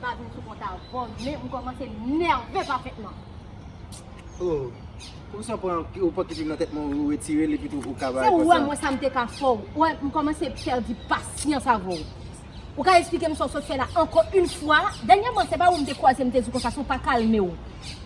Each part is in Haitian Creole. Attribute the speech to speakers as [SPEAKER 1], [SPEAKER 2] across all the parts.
[SPEAKER 1] Pa di w sou
[SPEAKER 2] kont a vòl men m kòmanse nève pafètman. Oh, ou si w pran ou pran kipim nan tèt mwen ou retire l epi tou ou kaba Se ou wè mwen sa m te ka
[SPEAKER 1] fè w. Wè, m kòmanse pèdi pasyans avè w. Ou ka esplike m sa w sot fè la ankò yn fwa? Dènyèman se pa ou m te kwaze m te di konsa si w pa kalme w.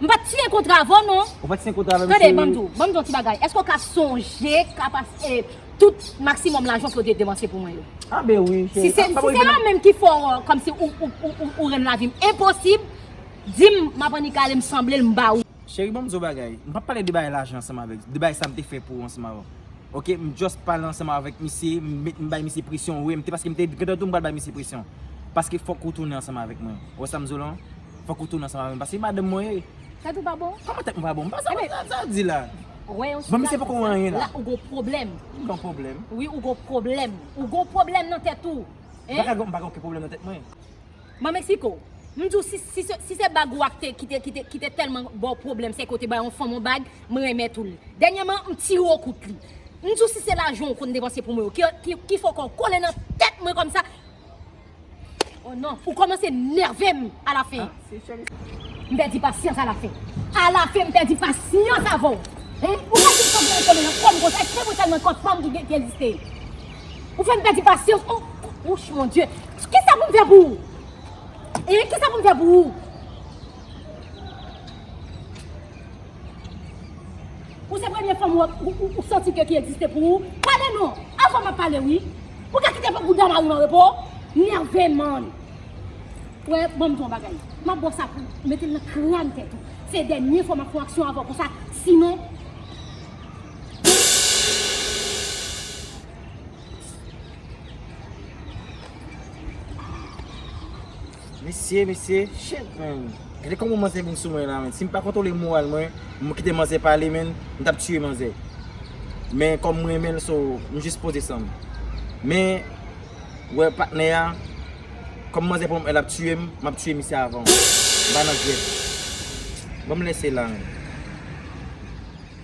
[SPEAKER 2] M pat siyen kontra
[SPEAKER 1] avè w non. Ou pat siyen kontra avè m cheri. Tande
[SPEAKER 2] banm di w, banm di w yon ti
[SPEAKER 1] bagay. Èske w ka sonje kapas e tout maksimòm lajan w te depanse pou mwen yo? A ben wi
[SPEAKER 2] cheri. Si se yo menm
[SPEAKER 1] ki fè w kòmsi ou rann lavi m enposib, di m m ap annik ale m sanble l m ba ou. Cheri banm di w yon bagay.
[SPEAKER 2] M pap pale de bagay lajan ansanm avèk, de bagay sa m te fè pou ou ansanm avè w. Ok, m just pale ansanm avèk misye, m bay misye presyon wi. M te paske m te gentan di w m pral bay misye presyon. Paske fòk ou tounen ansanm avèk mwen. Ou wè sa m di w lan? Fòk ou tounen ansanm avèm paske se madanm mwen ye. Tèt ou pa bon?
[SPEAKER 1] Kòman tèt mwen pa bon? Sa
[SPEAKER 2] wap di la? Wè yon
[SPEAKER 1] sitwasyon
[SPEAKER 2] sa, la ou gon pwoblèm.
[SPEAKER 1] M gon pwoblèm?
[SPEAKER 2] Wi ou gon pwoblèm.
[SPEAKER 1] Ou gon pwoblèm nan tèt ou. M pa ka gon, m pa gen okenn
[SPEAKER 2] pwoblèm nan tèt mwen. Man Mexico,
[SPEAKER 1] m di w si, si se, si se bag ou a ki te, ki te, ki te, ki te tèlman ba w pwoblèm, se ke ou te bay yon fanm yon bag, m renmèt ou li. Dènyèman, m tire w kout li. M di w si se lajan w konn depanse pou mwen yo, ki, ki fè w kòw kole nan tèt mwen kòmsa. Oh non, ou komanse nerve m a la fin. M pèdi pasyans a la fin. A la fin m pèdi pasyans avè w. Ou pa janm santi kole nan kò m konsa, eksprè pou tèlman kòt fanm ki egziste. Ou fè m pèdi pasyans oh. Ouch mon Dye. Kisa pou m fè pou ou? Hein, kisa pou m fè pou ou? Ou se premye fanm ou santi ke ki egziste pou ou? Pale non! Avwa map pale wi! Ou ka kite pe bouda mariw anrepo? Nève man! Ou wè, banm di w yon bagay, map ba w sa pou mete nan kran tèt ou. Se dènye fwa map fè yon aksyon avè w konsa, sinon.
[SPEAKER 2] Mesye mesye shit man Gade kòman manzè vin sou mwen la man Si m pa kontwole moral mwen M kite manzè pale man M tap tiye manzè Men kòm m renmen l so m jis poze san m Men wè patnè a Kòm manzè pran m el ap tiye m M ap tiye misye avan M pa nan jwèt Bon m lèse la man.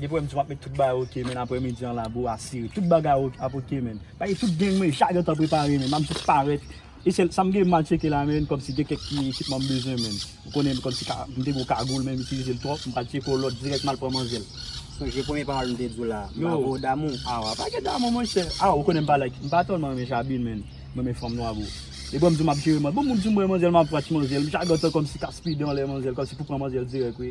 [SPEAKER 3] Depi wèm
[SPEAKER 4] di wap met tout bagay ok men aprè midi an la bro asire tout bagay ap ok men Paske tout gang mwen cha gentan prepare men map jis parèt e sèl sam gen mal tcheke la men kòmsi gen kèk ti ekipman m bezwen men ou konnen kòmsi ka m te gen yon kagoul men m itilize l twòp m pral tcheke yon lòt dirèk mal pran manzèl. Sonje premye pawòl
[SPEAKER 5] m te di w la m pa vwe w damou.
[SPEAKER 4] Aw a
[SPEAKER 5] pa gen damou
[SPEAKER 4] monchè aw ou konnen m pa like m pa tèlman renmen jabin men m renmen fanm nwa bro depi wèm di w map jere manzèl bon m di w m renmen manzèl map pran ti manzèl m cha gentan kòmsi ka spide anlè manzèl kòmsi pou pran manzèl dirèk wi.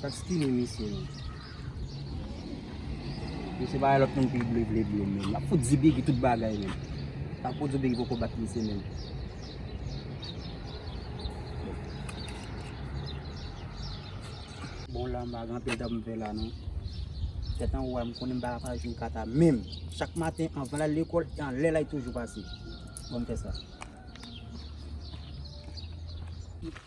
[SPEAKER 4] Sak
[SPEAKER 5] stine misye menm. Misye pa wè lòt moun pi ble ble bleu menm. Lap fout di Biggy tout bagay menm. Sa pou di Biggy poko bat misye menm. Bon la m pa gen anpil tan pou m fè la non. Tèt anwo a m konnen m pa ka fè jou kata menm. Chak maten anvan l al lekòl e anlè la li toujou pase. Bon m fè sa.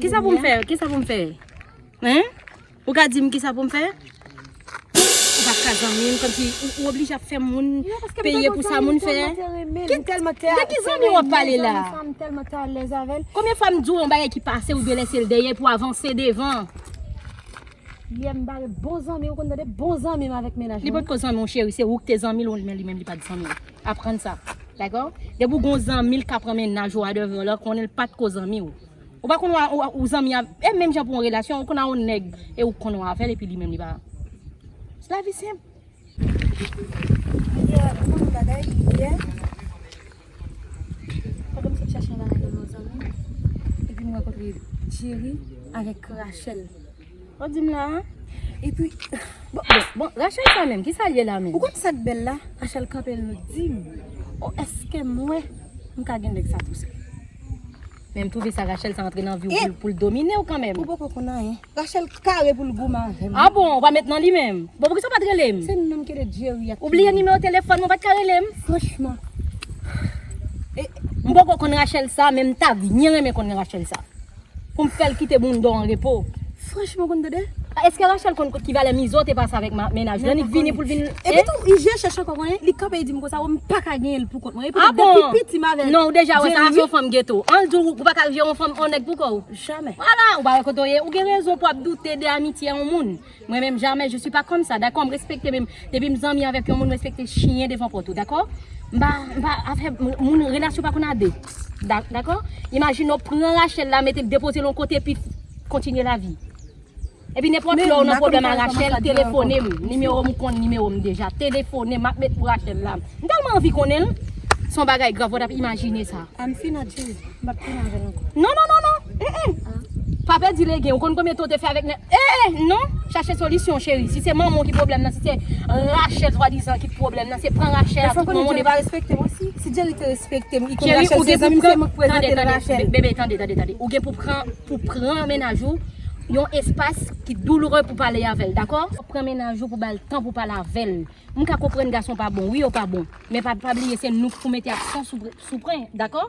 [SPEAKER 1] Kisa pou m fè? Kisa pou m fè? Hein? Ou ka di m kisa pou m fè? Ou pa ka zanmi m, kòmsi ou oblije ap fè moun peye pou sa moun fè? Ki telman te a, de ki zanmi wap pale la? M telman te alèz
[SPEAKER 3] avèl. Konbyen fwa m di w yon bagay
[SPEAKER 1] ki pase ou dwe lese l dèyè pou avanse devan?
[SPEAKER 3] Liye m bare bon zanmi, ou konn tande bon zanmi m avèk menaj mwen. Li pot ko zanmi w cheri, se
[SPEAKER 1] ou ki te zanmi l, men li menm li pat zanmi w. Aprann sa Dakò Depi ou gen yon zanmi l ka pran mennaj ou a devan w l konnen l pa t ko zanmi w Ou pa konn w a ou zanmi avè l e menm jan pou yon relasyon ou konn a yon nèg e ou konn w avè l epi li menm li pa Lavi senp Li te rakonte m yon bagay yè Pandan m sot chache yon bagay
[SPEAKER 3] devan yon zanmi m epi m rankontre Djeri avèk Rachel. Wap dim
[SPEAKER 1] la a? Epi
[SPEAKER 3] Bon
[SPEAKER 1] Rachel sa menm kisa li ye la menm? Ou konn sak bel la
[SPEAKER 3] Rachel kanpe l nou dim Oh eske mwen m ka gen nèg sa tou sèm?
[SPEAKER 1] Menm twouve sa Rachel sa antre nan viw pou l pou l dominew kanmenm. Ou poko konn anyen.
[SPEAKER 3] Rachel kare pou l goumen avèm wi. Ah bon ou pa met nan li
[SPEAKER 1] menm? Bon poukisa ou pat rele m? Se nou menm ki rele Jerry
[SPEAKER 3] ak Ou bliye nimewo telefòn
[SPEAKER 1] mwen ou pat ka rele m? Franchman. M poko konn Rachel sa menm ta byen renmen konn Rachel sa. Poum fèl kite boundon an repo. Franchman konn tande.
[SPEAKER 3] Eske Rachel konn
[SPEAKER 1] ki valè mizo te pase avèk mennaj li an li k vini poul vin Epi tou Ije chèch
[SPEAKER 3] ankò konnen li kanpe li dim konsa wè m paka genyen l pou kont mwen epi tou depi piti m avèl
[SPEAKER 1] Non ou deja
[SPEAKER 3] wè sa se yon
[SPEAKER 1] fanm geto Anl di w ou paka jere yon fanm yon nèg pou kò w Jamè Wala ou pa
[SPEAKER 3] wè kote w ye
[SPEAKER 1] ou gen rezon pou ap doute de amitye yon moun. Mwen menm jamè je suis pas comme ça dakò m respekte men depi m zanmi avèk yon moun m respekte chyen devan pòt ou dakò m pa m pa afè moun relasyon pa konn a 2 dakò imajine w pran Rachel la mete l depoze l yon kote epi kontinye lavi epi nenpòt lè w nan pwoblèm a Rachel telefone m nimewo m ou konn nimewo m deja telefone m m ap met pou Rachel la m tèlman anvi konnen l s on bagay grav ou t ap imajine sa.
[SPEAKER 3] Mbap tounen avèl ankò. Non non non
[SPEAKER 1] non eh eh Pa pèdi legen ou konn konbyen tan ou te fè avèk nèg eh eh non Chache solisyon cheri si se manman w ki pwoblèm nan si se Rachel swadizan ki t pwoblèm nan se pran Rachel a tout manman w depi
[SPEAKER 3] Cheri ou gen pou pran Tande tande bebe tande tande tande
[SPEAKER 1] ou gen pou pran pou pran mennaj ou yon espas ki douloure pou pale avèl dakò Pran mennaj ou pou bal tan pou pale avèl M ka konprann gason pa bon wi yo pa bon men pa bliye se nou k pou mete aksyon sou pran dakò.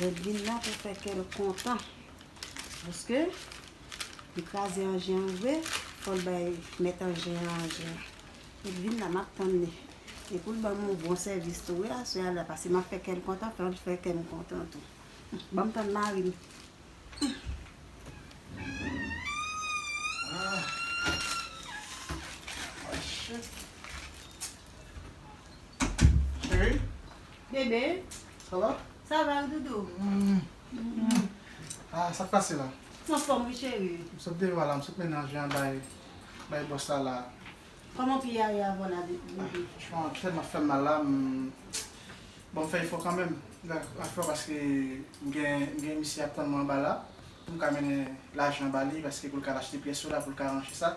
[SPEAKER 6] Redline nan pou fè kè l kontan. Paske, li kraze anjen an vre, fò l bay mèt anjen an anjen an. Li vin la, m ap tann li. E pou l ban m yon bon sèvis tou wi aswè a la. Pase m ap fè kè l kontan, fè l fè kè m kontan tou. Ban m tann mari m.
[SPEAKER 7] Chérie. Bébé.
[SPEAKER 6] Ça va?
[SPEAKER 7] Ça va wi doudou. Ah sak pase la? M anfòm wi chéri.
[SPEAKER 6] M sot deva la, m sot
[SPEAKER 7] mennen anje an bay bay bòs la la. Kòman pye a
[SPEAKER 6] ye avan la doudou? Franchman pye m ap fè
[SPEAKER 7] m mal la, m bon m fè efò kanmenm. M fè efò paske m gen m gen misye ap tann mwen anba la pou m ka mennen lajan ba li paske pou l ka al achte pyès yo la pou l ka ranje sa.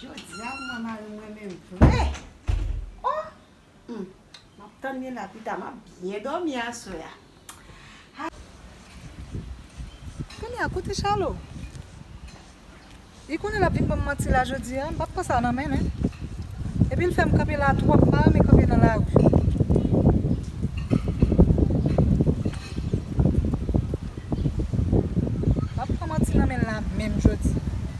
[SPEAKER 6] Jodia m wè mari m renmenm vre oh humm map tann li la pita map byen domi aswè
[SPEAKER 8] a ha. Tande a kote Charlo li konnen lap vin banm manti la jodia m pat pran sa nan menl hein epi l fèm kanpe la twòp m pa renmen kanpe nan lari. Pap pran manti nan menl la menm jodia.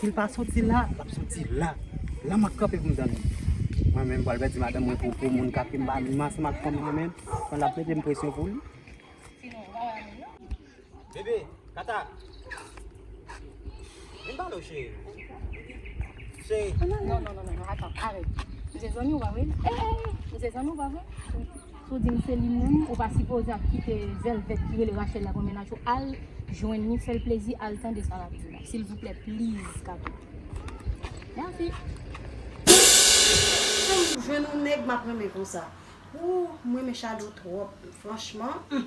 [SPEAKER 5] Sil pa soti la, lap soti la. La map kanpe pou mtande. Mwen menm pral pèdi madanm mwen pou pou moun kap vin banm. Mwen se mak fanm mwen menm. Mwen lap mete m presyon pou li. Bebe, kata. Vin ba nou cheri. Cheri. Non, non, non, non,
[SPEAKER 1] non, atan, arèt. Mwen se zanmi ou pa vre? Mwen se zanmi ou pa vre? Sou di mwen se li mwen, ou pa si poze ap kite zèl vèt kire le rachèl la konmen nacho. Al, jwen ni fèl plezi, al tan de sa la pizou la. Sil vouple, pliz, kato. Merci.
[SPEAKER 6] Jwen nou nèg map renmen konsa. Wou, mwen men chado trop, franchman.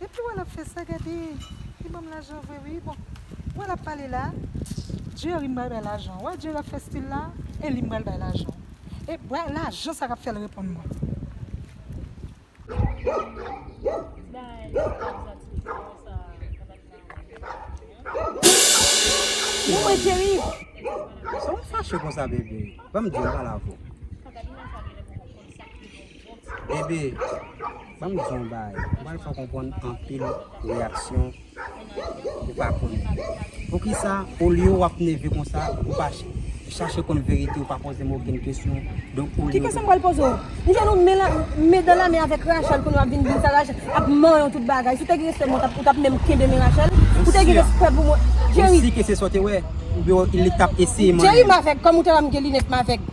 [SPEAKER 8] Depi wè lap fè sa gade li banm lajan vre wi bon wè lap pale la Jerry m pral bay lajan wè Jerry ap fè stil la e li m pral bay lajan e bwa lajan sa kap fèl reponn mwen.
[SPEAKER 3] Bon mwen Jerry Sa w
[SPEAKER 5] fache konsa bebe banm diw mal avw. Bebe, banm di yon baay, m pral fè w konprann anpil reyaksyon ou pa konn. Poukisa olye w ap nève konsa, ou pa chache konn verite, ou pa poze m okenn kesyon. Donk olye w te. Ki kesyon m pral poze w? M
[SPEAKER 3] jwenn ou men dan la men avèk Rachel kounye w ap vin di m sa Rachel ap manyen w tout bagay. Si w te gen respè pou mwen ou t ap menm kenbe men Rachel. Ou te gen respè pou mwen. Ou si ke se sa w te
[SPEAKER 5] wè? Oubyen li t ap eseye manyen w? Jerry m avèg, kòm ou te wè
[SPEAKER 3] m gen linèt m avèg.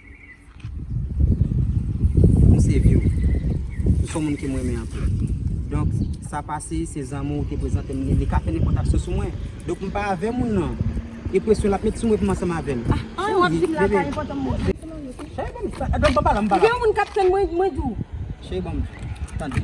[SPEAKER 5] M save yo. Ou son moun ke m renmen anpil. Donk, sa pase, se zanmi w te prezante m li. Li ka fè nenpòt aksyon sou mwen. Donk, m pa avè moun nan. E presyon l ap met sou mwen pou m ansanm avè l. An, w ap di m la pa
[SPEAKER 3] enpòtan pou mwen. Cheri, banm sa. Banm pa la, banm pa la. M gen yon moun k ap tann mwen, mwen di w. Cheri, banm.
[SPEAKER 5] Tande.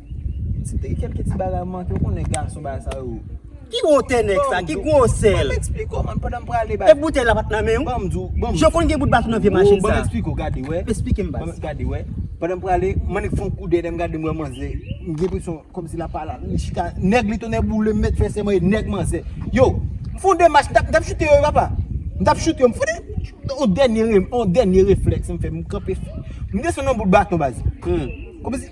[SPEAKER 2] Ti te gen kelke ti bagay m manke, ou konnen nèg gason bagay sa yo. Ki wotè nèg
[SPEAKER 5] sa, ki gwosè l? Banm eksplike w man pandan m
[SPEAKER 2] prale bay. E boutèy la pat nan men
[SPEAKER 5] w? Banm di w, banm. Jan w konn gen bout baton nan vye machin sa. Banm eksplike w gade wè.
[SPEAKER 2] Eksplike m baz. Gade wè. Pandan m prale, m annik fon kou dèyè m gade m wè manzè. M gen enpresyon kòmsi l ap pale avè m, li chita. Nèg li tonnè boule m mèt fè sèman e nèg manzè. Yow! M fon de mach, m tap choute yo wi papa. M tap choute yo, m fon de yon dènye, yon dènye reflèks m fè, m kanpe. M desann yon bout baton baz. Kòmsi.